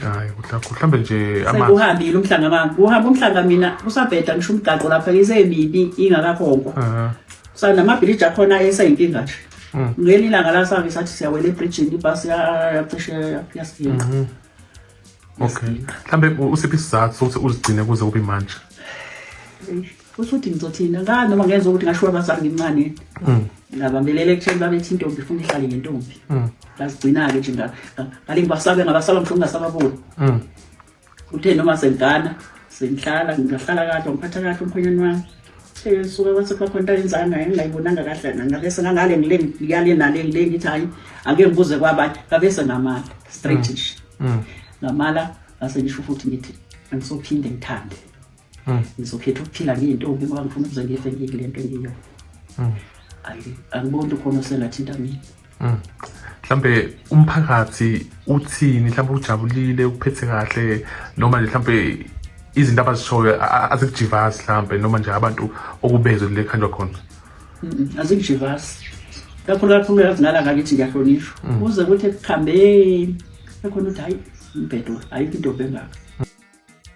hayi mhlawumbe nje sekuhambile umhlanga mama kuhamba umhlanga mina kusabheda ngisho umgaqo lapha isemibi ingakakhonkwa kusanamabhiliji akhona eseyinkinga nje mm. ngelinye ilanga lasake sathi siyawela ebridgini ibhasi yacishe yasiginqa mm-hmm. okay mhlawumbe usiphi isizathu sokuthi uzigcine kuze kube manje usuthi ngizothina ngani noma ngezwa ukuthi ngashiwa abazali ngimncane mm. ngabambelela ekutheni babethi intombi ifuna ihlale ngentombi mm. ngazigcina-ke nje ngale ngibasabe ngabasaba mhlawumbe ngasababoni mm. uthe noma sengigana sengihlala ngingahlala kahle ngiphatha kahle umkhonyana wami suka kwasekwakhona into ayenzanga engingayibonanga kahle ngabe sengangale ngile ngiyale nale ngile ngithi hhayi ake ngibuze kwabanye ngabe sengamala straight nje ngamala ngase ngisho futhi ngithi angisophinde ngithande Mm. ngizokhetha ukuphila ngiyintombi ngoba ngifuna ukuze ngife ngiyile nto engiyo mm. angiboni ukuthi ukhona osengathinta mina mm. mhlambe umphakathi uthini mhlambe ujabulile ukuphethe kahle noma nje mhlambe izinto abazishoyo azikujivazi mhlambe noma nje abantu okubezwe kule khanjwa khona azikujivazi kakhulu kakhulu yazi nala ngakithi ngiyahlonishwa kuze kuthi ekuhambeni ekhona ukuthi hayi mbhedo ayikho intombi engaka